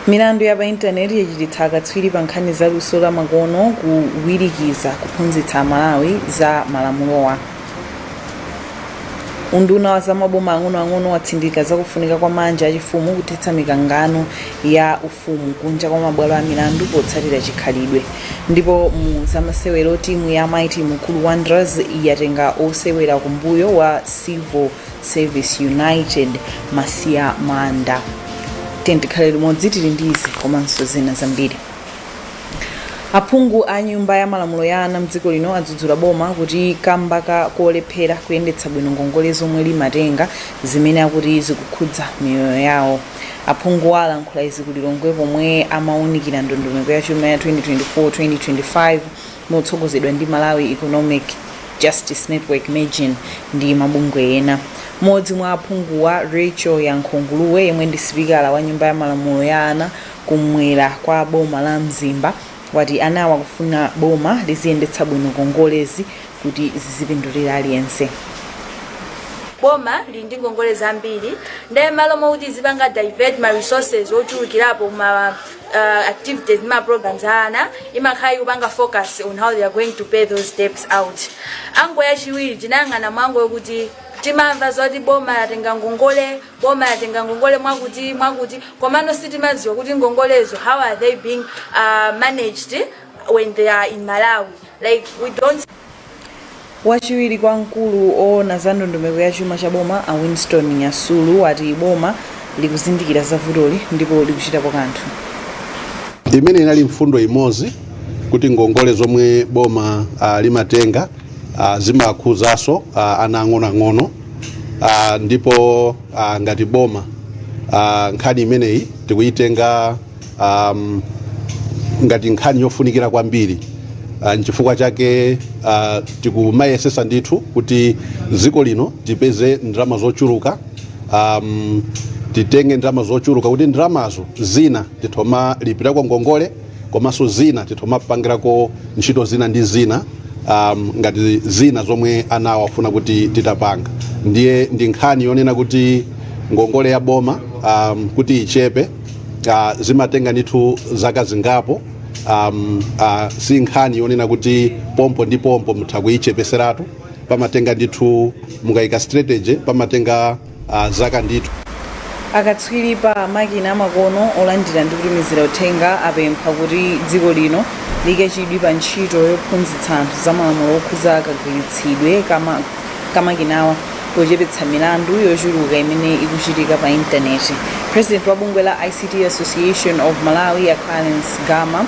milandu ya pa intaneti yachititsa akatswiri pa nkhani za luso la makono kuwirikiza kuphunzitsa amalawi za malamulowa unduna wa zamaboma ang'onoang'ono watsindika zakufunika kwa manja achifumu kuthetsa mikangano ya uf umu kunja kwa mabwalo a milandu potsatira chikhalidwe Ndipo mu zamasewero timu ya mighty mukulu wanderers yatenga osewera kumbuyo wa civil service united masiya manda tiyeni tikhale limodzi tili ndi izi komanso zina zambiri aphungu a nyumba ya malamulo ya ana mdziko lino adzudzula boma ati kamba ka kolephera kuyendetsa bwino ngongole zomwe limatenga zimene akuti zikukhudza miyoyo yawo Aphunguwa alankhula izi ku Lilongwe pomwe amawunikira ndondomeko ya chuma ya 2024-2025 motsogozedwa ndi Malawi Economic Justice Network Mejn ndi mabungwe ena. Mmodzi mwa aphunguwa Racheal Yankho Nguluwe yemwe ndi sipikala wa nyumba ya malamulo ya ana kum'mwera kwa boma la Mzimba wati anawa akufuna boma liziyendetsa bwino ngongolezi kuti zizipindulira aliyense. boma lili ndi ngongole zambiri nde malo mokuti izipanga divert ma resources ochulukirapo ma uh, activities ndi ma programs a ana imakhala ikupanga focus on how they are going to pay those debts ndiye challenge yachiwiri tinayang'ana ndi yokuti timamva zoti boma latenga ngongole boma latenga ngongole mwakuti mwakuti komano sitimadziwa kuti ngongolezo how are they being uh, managed when they are in malawi Like we don't Wachiwiri kwa mkulu oona za ndondomeko ya chuma cha boma a Winston Nyasulu ati boma likuzindikira za vutoli ndipo likuchitapo kanthu. imene inali mfundo imodzi kuti ngongole zomwe boma uh, limatenga uh, zimakhuzanso uh, ana ang'onoang'ono uh, ndipo uh, ngati boma uh, nkhani imeneyi tikuyitenga um, ngati nkhani yofunikira kwambiri uh, nchifukwa chake uh, tikumayesesa ndithu kuti dziko lino tipeze ndalama zochuluka um, titenge ndalama zochuluka kuti ndalamazo zina tithoma lipirako ngongole komanso zina tithoma pangirako ntchito zina ndi zina um, ngati zina zomwe anawo afuna kuti titapanga ndiye ndi nkhani yonena kuti ngongole ya boma um, kuti ichepe uh, zimatenga ndithu zaka zingapo um, uh, si nkhani yonena kuti pompo ndi pompo mutha kuyichepetseratu pamatenga ndithu mukayika strategy pamatenga uh, zaka ndithu akatswiri pa makina amakono olandira ndi kutumizira uthenga apempha kuti dziko lino liyike chidwi pa ntchito yophunzitsa anthu za malamulo okhudza kagwiritsidwe kama ka makinawa pochepetsa milandu yochuluka imene ikuchitika pa intaneti president wa bungwe la ict association of malawi a clarence gama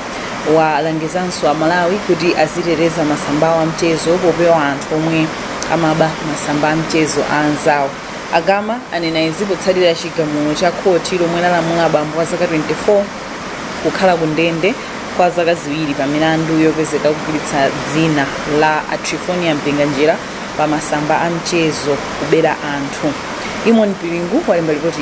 walangizanso amalawi kuti aziteteza masamba awo a mchezo popewa anthu omwe amaba masamba a mchezo a anzawo a gama anena izi potsatira chigamulo cha khoti lomwe lalamula bambo wa zaka 24 kukhala ku ndende kwa zaka ziwiri pa milandu yopezeka kugwiritsa dzina la a Triphonia Mpinganjira pa masamba a mchezo kubera anthu. Eamon Piringu walemba lipoti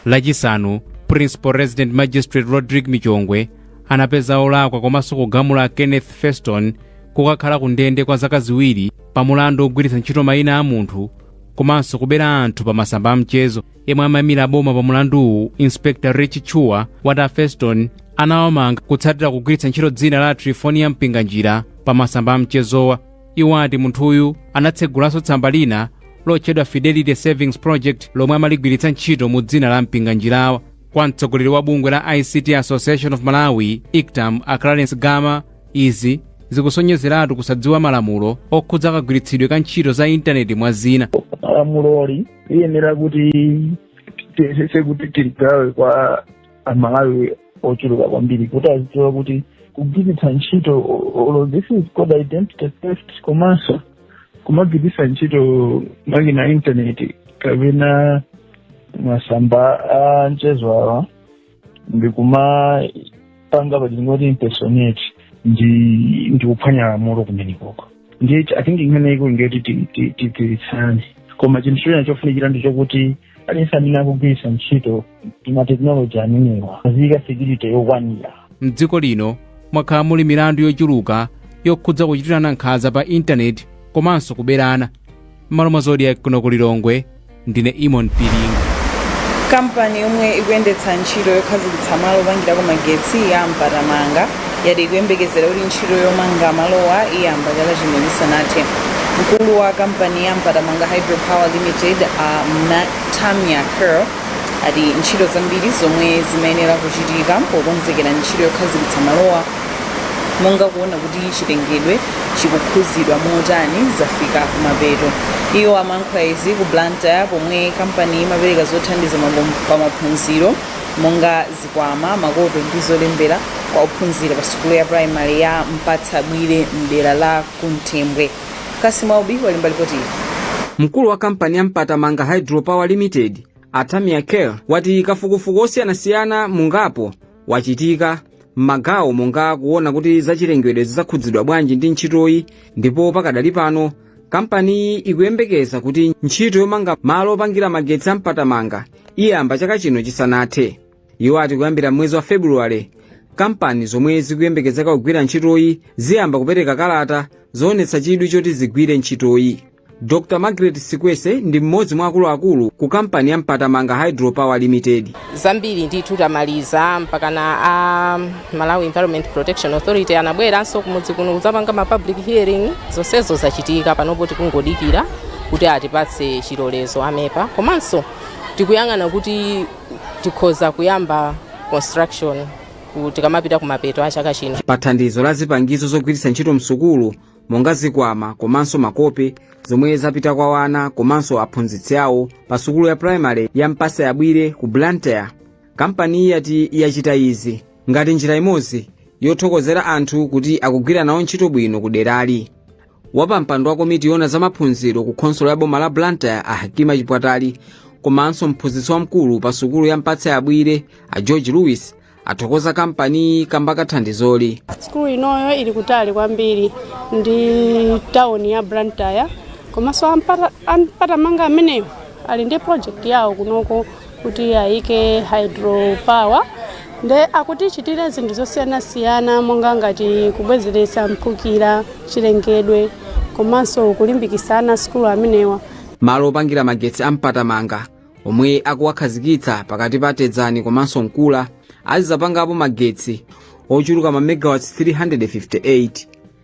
lachisanu principal resident magistrate rodrick michongwe anapeza olakwa komanso kugamula a kenneth feston kukakhala ku ndende kwa zaka ziwiri pa mulandu wogwiritsa ntchito mayina a munthu komanso kubera anthu pa masamba a mchezo yemwe amaimira a boma pa mulanduwu inspector rich chua wati a feston anawamanga potsatira kugwiritsa ntchito dzina la a triphonia mpinganjira pa masamba a mchezowa iwo ati munthuyu anatsegulanso tsamba lina lotchedwa fidelity savings project lomwe amaligwiritsa ntchito mu dzina la mpinganjirawa kwa mtsogoleri wa bungwe la ict association of malawi ictam a clarence gama izi zikusonyezeratu kusadziwa malamulo okhudza kagwiritsidwe ka ntchito za intaneti mwa zina lamuloli liyenera kuti tiyesese kuti tiligawe kwa amalawi ochuluka kwambiri kuti azidziwa kuti kugwiritsa ntchito olo this is called identity theft komanso kumagwiritsa ntchito makina intaneti kapena masamba a mchezowa ndikumapanga pachingoti impersonate ndi ndi kuphwanya lamulo kumenekoko ndiye i think nkhani iko ingati tigwiritsane koma chinthu china chofunikira ndi chokuti aliyense amene akugwiritsa ntchito mateknoloji amenewa aziyika security yokwanira mdziko lino mwakhala muli milandu yochuluka yokhudza kuchitirana nkhanza pa intaneti komanso kuberana m'malo mwa zodiac kuno ku lilongwe ndine eamon piringu kampani yomwe ikuyendetsa ntchito yokhazikitsa malo opangirako magetsi ya mpatamanga yati ikuyembekezera kuti ntchito yomanga malowa iyamba chaka chino chisanathe mkulu wa kampani ya mpatamanga hydropower limited a Ma- tamia curl ati ntchito zambiri zomwe zimayenera kuchitika pokonzekera ntchito yokhazikitsa malowa monga kuona kuti chilengedwe chikukhuzidwa motani zafika kumapeto iwo amankhula izi ku blantyre pomwe kampani imapereka zothandiza mabom- pa maphunziro monga zikwama makope ndi zolembera kwa ophunzira pa sukulu ya primary ya mpatsa bwire mdera la kunthembwe kasimu aubi walemba lipoti ili mkulu wa kampani ya mpatamanga hydropower limited atamia kel ati kafukufuku osiyanasiyana mungapo wachitika m'magawo monga kuona kuti zachilengedwe zidzakhudzidwa bwanji ndi ntchitoyi ndipo pakadali pano kampaniyi ikuyembekeza kuti ntchito yomanga malo opangira magetsi ampatamanga iyamba chaka chino chisanathe iwo ati kuyambira mwezi wa februwale kampani zomwe zikuyembekezeka kugwira ntchitoyi ziyamba kupereka kalata zoonetsa chidwi choti zigwire ntchitoyi Dr. Margaret Sikwese ndi mmodzi mwa akuluakulu ku kampani ya Mpatamanga Hydropower Limited. zambiri ndithu tamaliza mpakana a malawi environment protection authority anabweranso kumudzi kuno kudzapanga ma public hearing zonsezo zachitika panopo tikungodikira kuti atipatse chilolezo a mepa komanso tikuyang'ana kuti tikhoza kuyamba construction ku- tikamapita kumapeto a chaka chino Pa thandizo la zipangizo zogwiritsa ntchito msukulu, monga zikwama komanso makope zomwe zapita kwa wana komanso aphunzitsi awo pa sukulu ya primary ya mpatsa yabwire ku blantyre kampaniyi yati yachita izi ngati njira imodzi yothokozera anthu kuti akugwira nawo ntchito bwino ku derali wapampando wa komiti yona za maphunziro ku khonsolo ya boma la blantyre a hakima chipwatali komanso mphunzitsi wamkulu pa sukulu ya mpatsa yabwire a george lewis athokoza kampaniyi kamba ka thandizoli sikulu inoyo ili kutali kwambiri ndi tawuni ya blantyre komanso ampata- ampatamanga amenewa ali ndi project yawo kunoko koti ayike hydro power nde akutichitira zinthu zosiyanasiyana monga ngati kubwezeretsa mphukira chilengedwe komanso kulimbikitsa ana sikulu amenewa malo opangira magetsi ampatamanga omwe akuwakhazikitsa pakati pa tedzani komanso nkula azizapangapo magetsi ochuluka ma megawatts 358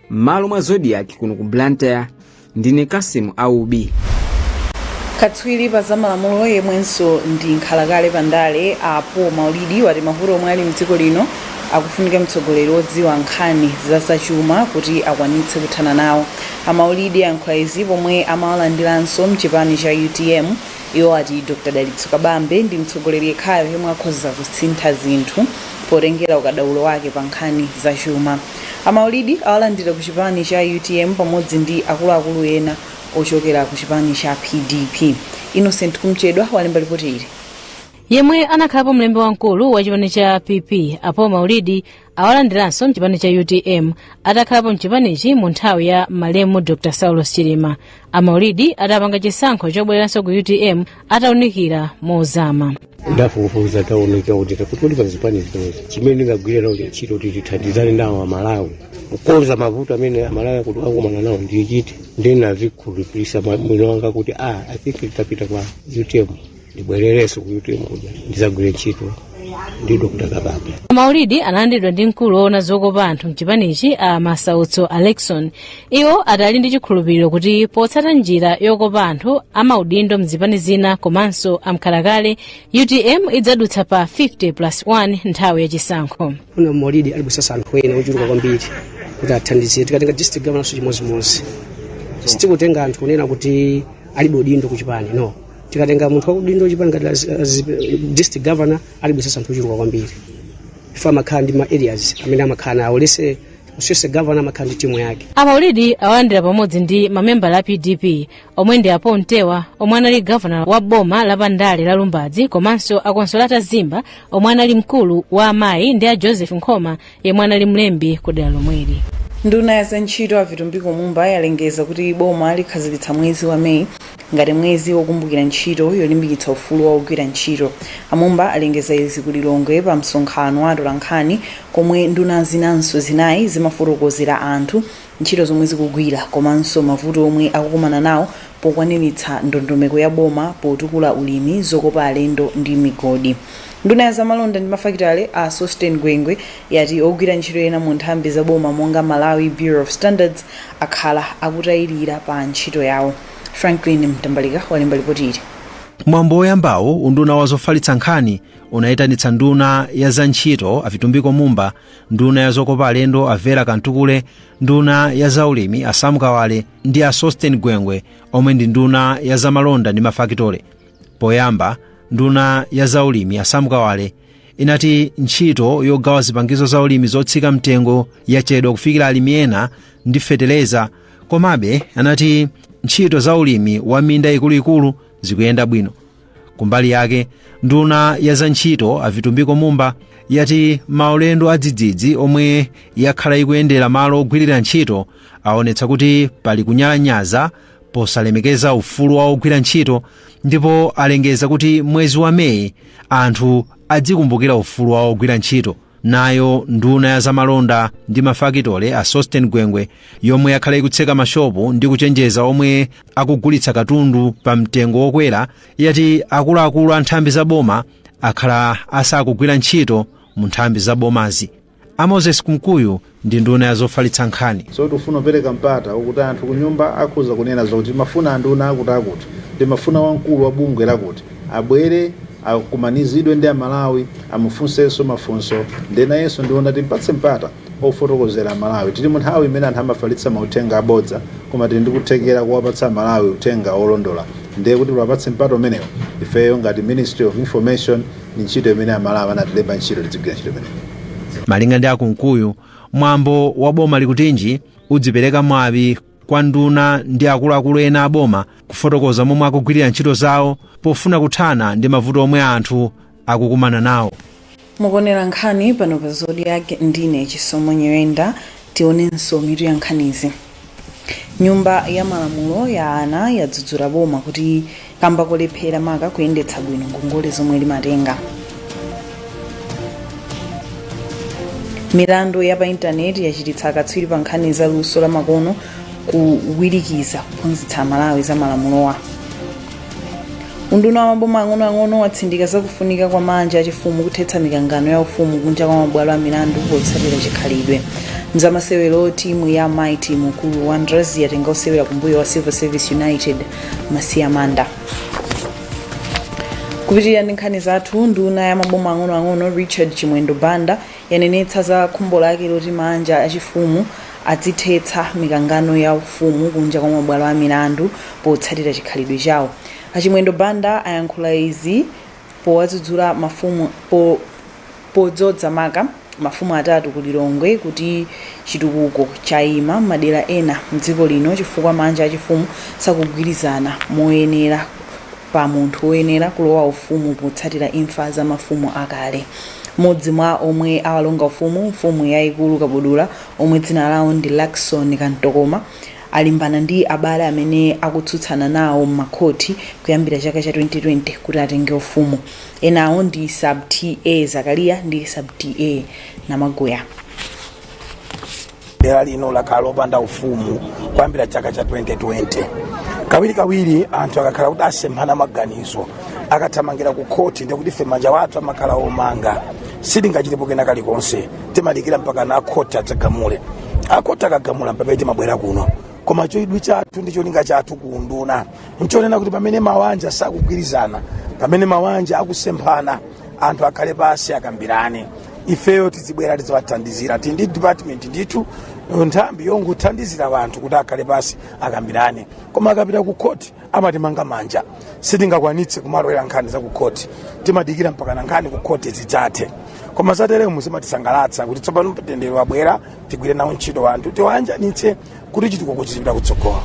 m'malo mwa zodiac kuno ku blantyre ndine kasimu aubi katswiri pa zamalamulo yemwenso ndi nkhalakale pa ndale a paul maulidi wati mavuto omwe ali mdziko lino akufunika mtsogoleri wodziwa nkhani za zachuma kuti akwanitse kuthana nawo amaulidi ayankhula izi pomwe amawalandiranso mchipani cha utm Iwo ati Dr Dalitso Kabambe ndi mtsogoleri yekhayo yemwe akhoza kusintha zinthu potengera ukadaulo wake pa nkhani za chuma. A Maulidi awalandira ku chipani cha utm pamodzi ndi akuluakulu ena ochokera ku chipani cha PDP. Innocent Kumchedwa walemba lipoti ili. Yemwe anakhalapo mlembi wamkulu wa chipani cha PP a Paul Maulidi awalandiranso mchipani cha utm atakhalapo mchipanichi mu nthawi ya malemu dr saulos chilima amaulidi adapanga chisankho chobwereranso ku utm ataunikira mozama ndafufuza ndaona kuti pakati pa zipani zimenezi chimene ndingagwira nawo ntchito kuti tithandizane nawo amalawi kukonza mavuto amene amalawi akuti akumana nawo ndiye chiti ndinazikhulupirisa mmtima mwanga kuti a i think titapita kwa utm ndibwererenso ku utm kuja ndizagwire ntchito ndi dr kabambe maulidi analandidwa ndi mkulu woona zokopa anthu mchipanichi a masautso alexon iwo adali ndi chikhulupiriro kuti potsata njira yokopa anthu amaudindo mzipani zina komanso amkhalakale utm idzadutsa pa 50 plus 1 nthawi yachisankho ngati maulidi alibwesesa anthu ena ochuluka kwambiri kuti athandizire tikatenga district governance chimodzimodzi sitikutenga anthu kunena kuti alibe udindo kuchipani no tikatenga munthu wa udindo chipani ngati as- as- district governor alibisesa anthu ochuluka kwambiri ife amakhala ndi ma areas amene amakhala nawo lese sese governor amakhala ndi timu yake amaulidi awalandira pamodzi ndi mamembala a pdp omwe ndi a pontewa omwe anali gavana wa boma la pandale la lumbadzi komanso a consolata zimba omwe anali mkulu wa amayi ndi a joseph nkhoma yemwe anali mlembi ku dera lomweli nduna ya zantchito a vitumbiko mumba yalengeza kuti boma likhazikitsa mwezi wa meyi ngati mwezi wokumbukira ntchito yolimbikitsa ufulu wa ogwira ntchito amumba alengeza izi ku lilongwe pa msonkhano wa atolankhani komwe nduna zinanso zinayi zimafotokozera anthu ntchito zomwe zikugwira komanso mavuto omwe akukumana nawo pokwaniritsa ndondomeko ya boma potukula ulimi, zokopa alendo ndi migodi. Nduna ya zamalonda ndi mafakitale, a Sosten Gwengwe, yati ogwira ntchito ena mu nthambi za boma monga Malawi Bureau of Standards akhala akutayilira pa ntchito yawo. Franklin Mtambalika walemba lipoti ili. Pa mwambo woyambawu, unduna wa zofalitsa nkhani unayitanitsa nduna ya za ntchito a Vitumbiko Mumba nduna ya zokopa alendo a vera kamtukule nduna ya zaulimi a sam kawale ndi a sosten gwengwe omwe ndi nduna ya zamalonda ndi mafakitale poyamba nduna ya zaulimi a sam kawale inati ntchito yogawa zipangizo za ulimi zotsika mtengo yachedwa kufikira alimi ena ndi feteleza komabe anati ntchito za ulimi wa minda ikuluikulu zikuyenda bwino Kumbali yake, nduna ya za ntchito a Vitumbiko Mumba yati maulendo adzidzidzi omwe yakhala ikuyendera malo ogwirira ntchito aonetsa kuti pali kunyalanyaza posalemekeza ufulu wa ogwira ntchito ndipo alengeza kuti mwezi wa Meyi anthu adzikumbukira ufulu wa ogwira ntchito. Nayo nduna ya zamalonda ndi mafakitole a Sostén Gwengwe yomwe yakhala ikutseka mashopu ndi kuchenjeza omwe akugulitsa katundu pa mtengo wokwera yati akuluakulu a nthambi za boma akhala asakugwira ntchito mu nthambi za bomazi. A Moses Kumkuyu ndi nduna ya zofalitsa nkhani. So tikufuna kupereka mpata okuti anthu kunyumba akutiuza kunena zoti timafuna anduna akuti akuti, timafuna wamkulu wa bungwe lakuti abwere akumanizidwe ndi a Malawi amufunsenso mafunso nde nayenso ndiona timpatse mpata ofotokozera a Malawi. Tili mu nthawi imene anthu amafalitsa mauthenga abodza koma tili ndi kuthekera kowapatsa a Malawi uthenga wolondola nde kuti tiwapatse mpata umenewo ifeyo ngati Ministry of Information ndi ntchito imene amalawi anatilemba ntchito tidzigwira ntchito imeneyi malinga ndi a kumkuyu mwambo wa boma likutinji uzipereka mwawi kwa nduna ndi akuluakulu ena a boma kufotokoza momwe akugwirira ntchito zawo pofuna kuthana ndi mavuto omwe anthu akukumana nawo mukuonera nkhani pano pa zodiac ndine chisomo nyirenda tionenso mitu ya nkhanizi nyumba ya malamulo ya ana yadzudzula boma kuti kamba kolephera maka kuyendetsa bwino ngongole zomwe limatenga milandu ya pa intaneti yachititsa akatswiri pa nkhani za luso lamakono kuwirikiza kuphunzitsa amalawi za malamulowa unduna wa maboma ang'onoang'ono watsindika zakufunika kwa maanja achifumu kuthetsa mikangano ya ufumu kunja kwa mabwalo a milandu potsatira chikhalidwe mzamasewero timu ya mighty mukuru wanderers yatenga osewera kumbuyo wa civil service united masiya manda kupitirira ndi nkhani zathu nduna ya maboma ang'onoang'ono richard chimwendo banda Yanenetsa za khumbo lake loti maanja achifumu azithetsa mikangano ya ufumu kunja kwa mabwalo a milandu potsatira chikhalidwe chawo. A Chimwendo Banda ayankhula izi powadzudzula mafumu podzodza maka mafumu atatu ku Lilongwe kuti chitukuko chaima m'madera ena mdziko lino chifukwa maanja achifumu sakugwirizana moyenera. pa munthu woyenera kulowa ufumu potsatira imfa za mafumu akale. Modzi mwa omwe awalonga ufumu mfumu yaikulu Kabudula omwe dzina lawo ndi Luckson Kantokoma alimbana ndi abale amene akutsutsana nawo m'makhoti kuyambira chaka cha 2020 kuti atenge ufumu. Enawo ndi Sub T.A Zakariya ndi Sub T.A Namaguya. dera lino lakhala lopanda ufumu kuyambira chaka cha 2020 kawirikawiri anthu akakhala kuti asemphana maganizo akathamangira ku khoti ndikuti ife manja wathu amakhala omanga sitingachitepo kena kalikonse timadikira mpakana akhoti adzagamule akhoti akagamula mpamene timabwera kuno koma chidwi chathu ndi cholinga chathu kuunduna nchonena kuti pamene mawanja sakugwirizana pamene mawanja akusemphana anthu akhale pansi akambirane ifeyo tizibwera tiziwathandizira tili ndi department ndithu nthambi yongothandizira wanthu kuti akhale pansi akambirane koma akapita ku khoti amatimanga manja sitingakwanitse kumalowera nkhani za ku khoti timadikira mpakana nkhani ku khoti zidzathe koma zateremu zimatisangalatsa kuti tsopano mtendere wabwera tigwire nawo ntchito wanthu tiwayanjanitse kuti chitukuko chizipita kutsogolo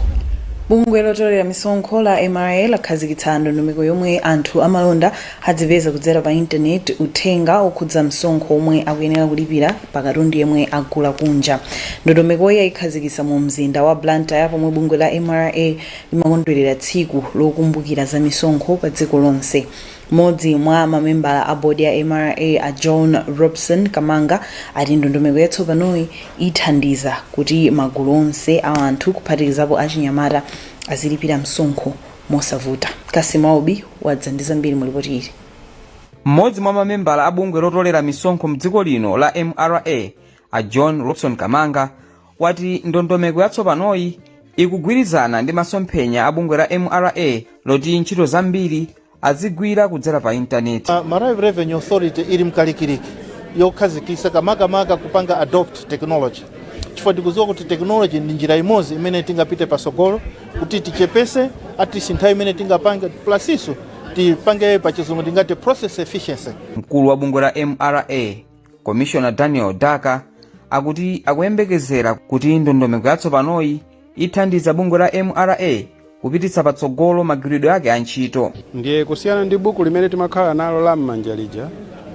bungwe lotolera misonkho la mra lakhazikitsa ndondomeko yomwe anthu amalonda adzipeza kudzera pa intaneti uthenga okhudza msonkho omwe akuyenera kulipira pa katundu yemwe agula kunja ndondomekoyi ayikhazikitsa mu mzinda wa blantyre pomwe bungwe la mra limakondwerera tsiku lokumbukira za misonkho pa dziko lonse Mmodzi mwa mamembala a board a mra a John Robson Kamanga ati ndondomeko yatsopanoyi ithandiza kuti magulu onse a anthu kuphatikizapo achinyamata azilipira msonkho mosavuta. Cassim Aubi wadza ndi zambiri mu lipoti ili. Mmodzi mwa mamembala a bungwe lotolera misonkho mdziko lino la mra a John Robson Kamanga wati ndondomeko yatsopanoyi ikugwirizana ndi masomphenya a bungwe la mra loti ntchito zambiri adzigwira kudzera pa intaneti Uh, Malawi Revenue Authority ili mkalikiliki wokhazikitsa ka makamaka kupanga adopt technology chifukwa tikudziwa kuti technology ndi njira imodzi imene tingapite patsogolo kuti tichepese atisi nthawi imene tingapange process tipange pachizungu tingati process efficiency mkulu wa bungwe la mra komishona daniel daka akuti akuyembekezera kuti ndondomeko yatsopanoyi ithandiza bungwe la mra kupititsa patsogolo magwiridwe ake a ntchito ndiye kusiyana ndi buku limene timakhala nalo la m'manja lija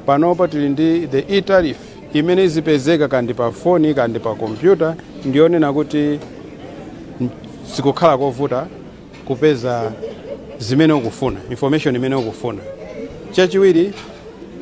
panopa tili ndi the e-tariff imene izipezeka kandi pa foni kandi pa kompyuta ndiyonena kuti sikukhala kovuta kupeza zimene ukufuna information imene ukufuna chachiwiri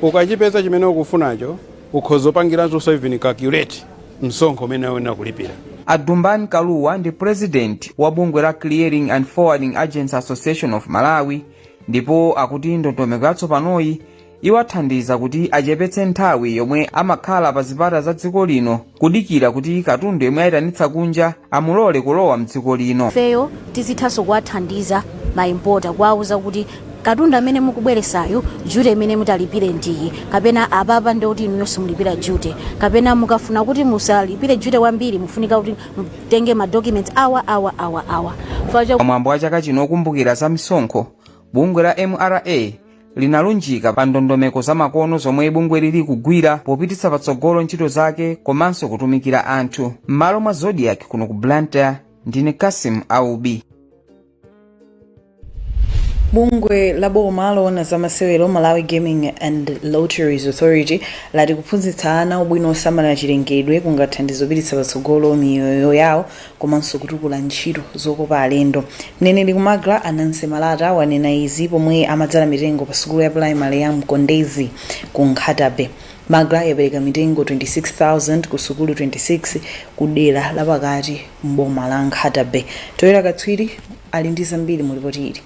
ukachipeza chimene ukufunacho ukhoza kupangiratu even calculate msonkho umene ukuyenera kulipira a dumbani kaluwa ndi president wa bungwe la clearing and forwarding agents association of malawi ndipo akuti ndondomeko yatsopanoyi iwathandiza kuti achepetse nthawi yomwe amakhala pa zipata za dziko lino kudikira kuti katundu yemwe ayitanitsa kunja amulole kulowa mdziko lino. ifeyo tizithanso kuwathandiza maimpota kuwauza kuti katundu amene mukubweresayu duty imene mutalipire ndiyi kapena apapa ndi kuti inuyo simulipira duty kapena mukafuna kuti musalipire duty wambiri mufunika kuti mutenge madocuments awa awa awa awa Chifukwa cha- pamwambo wa chaka chino okumbukira za misonkho bungwe la mra linalunjika pa ndondomeko zamakono zomwe bungweli likugwira popititsa patsogolo ntchito zake komanso kutumikira anthu m'malo mwa zodiac kuno ku blantyre ndine Cassim Aubi bungwe la boma loona za masewero Malawi Gaming and Lotteries authority lati kuphunzitsa ana ubwino osamalira chilengedwe kungathandize kupititsa patsogolo miyoyo yawo komanso kutukula ntchito zokopa alendo. Mneneri ku Magla a Nancy Malata wanena izi pomwe amadzala mitengo pa sukulu ya pulayimale ya Mkondezi ku Nkhata Bay. Magla yapereka mitengo 26,000 ku sukulu 26 ku dera lapakati m'boma la Nkhata Bay. Towera Katswiri ali ndi zambiri mu lipoti ili.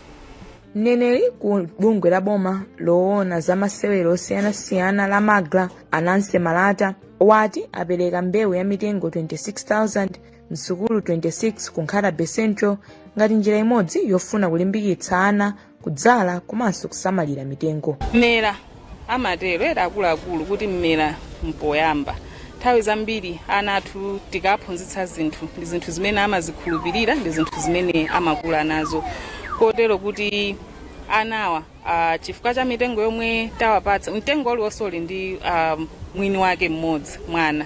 Mneneri ku bungwe la boma loona za masewero osiyanasiyana la Magla a Nancy Malata wati apereka mbewu ya mitengo 26,000 m'sukulu 26 ku Nkhata Bay central ngati njira imodzi yofuna kulimbikitsa ana kudzala komanso kusamalira mitengo mmera amatero akuluakulu kuti mmera mpoyamba nthawi zambiri ana athu tikaphunzitsa zinthu ndi zinthu zimene amazikhulupirira ndi zinthu zimene amakula nazo kotero kuti anawa uh, chifukwa cha mitengo yomwe tawapatsa mtengo uliwonse uli ndi uh, mwini wake mmodzi mwana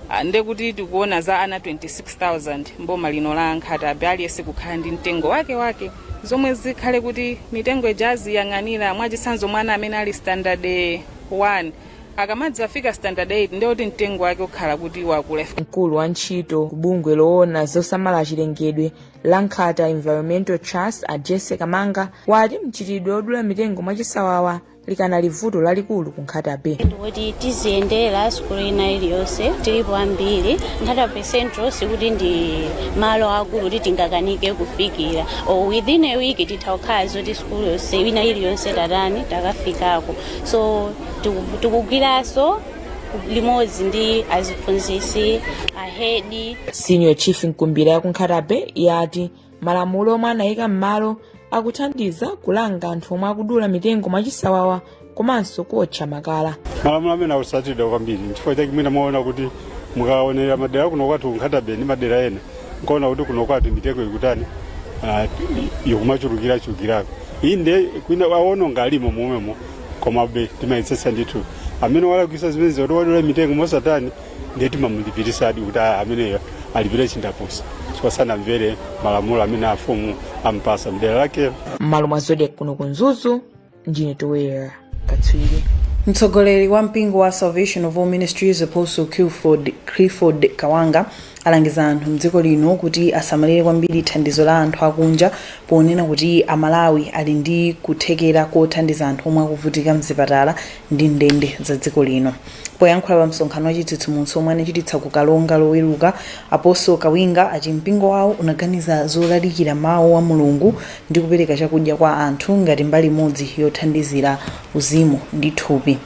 uh, nde kuti tikuona za ana 26000 mboma lino la Nkhata Bay aliyense kukhala ndi mtengo wake wake zomwe zikhale kuti mitengo ija aziyang'anira mwachitsanzo mwana amene ali standard 1 akamadzafika standard 8 nde kuti mtengo wake ukhala kuti wakula mkulu wa ntchito ku bungwe loona zosamala chilengedwe la Nkhata environmental trust a Jessie Kamanga wati mchitidwe odula mitengo mwachisawawa likanali vuto lalikulu ku nkhata bay kuti tiziyendera sukulu ina iliyonse tilipo ambiri nkhata bay central sikuti ndi malo akulu kuti tingakanike kufikira o within a week titha kukhala zoti sukulu yonse ina iliyonse tatani takafikako so tiku- tikugwiranso limodzi ndi aziphunzitsi ahedi senior chief mkumbira ya ku Nkhata Bay yati malamulo omwe anayika m'malo akuthandiza kulanga anthu omwe akudula mitengo mwachisawawa komanso kuotcha makala malamulo amene akutsatidwa kwambiri nchifukwa chake mwina mwaona kuti mukaonera madera kuno kwathu ku Nkhata Bay ndi madera ena mkaona kuti kuno kwathu mitengo ikutani ah, ikumachulukirachulukirako inde kwina aononga alimo momwemo komabe timayetsetsa ndithu amene walakwitsa zimenezi kuti wadula mitengo mosatani ndiye timamulipiritsadi kuti "Ah, ameneyo alipire chindapusa chifukwa sanamvere malamulo amene afumu ampasa mdera lake m'malo mwa zodiac kuno ku mzuzu ndine Towera katswiri mtsogoleri wa mpingo wa salvation for all ministries apostle clifford, clifford kawinga alangiza anthu mdziko lino kuti asamadalire kwambiri thandizo la anthu akunja ponena kuti a Malawi ali ndi kuthekera kothandiza anthu omwe akuvutika mzipatala ndi ndende za dziko lino. Poyankhula pa msonkhano wa chitsitsimutso omwe anachititsa ku Karonga loweruka, Apostle Kawinga ati mpingo wawo unaganiza zolalikira mawu a Mulungu ndi kupereka chakudya kwa anthu ngati mbali imodzi yothandizira uzimu ndi thupi.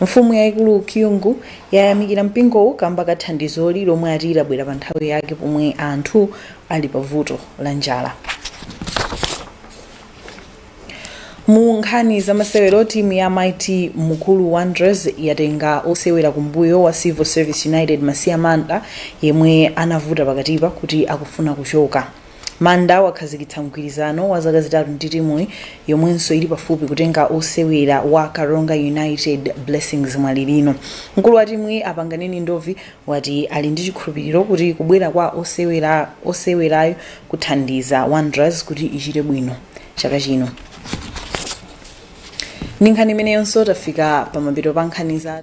Mfumu yaikulu Kyungu yayamikira mpingowu kamba ka thandizoli lomwe ati labwera pa nthawi yake pomwe anthu ali pa vuto la njala. Mu nkhani za masewero timu ya Mighty Mukuru Wanderers yatenga osewera kumbuyo wa Civil Service United Masiya Manda yemwe anavuta pakatipa kuti akufuna kuchoka. Manda wakhazikitsa mgwirizano wa zaka zitatu ndi timuyi yomwenso ili pafupi kutenga osewera wa Karonga United, Blessings Mwalilino. Mkulu wa timuyi, a Panganeni Ndovi, wati ali ndi chikhulupiliro kuti kubwera kwa osewerayu kuthandiza Wanderers kuti ichite bwino chaka chino. Ndi nkhani imeneyonso tafika pamapeto pa nkhani za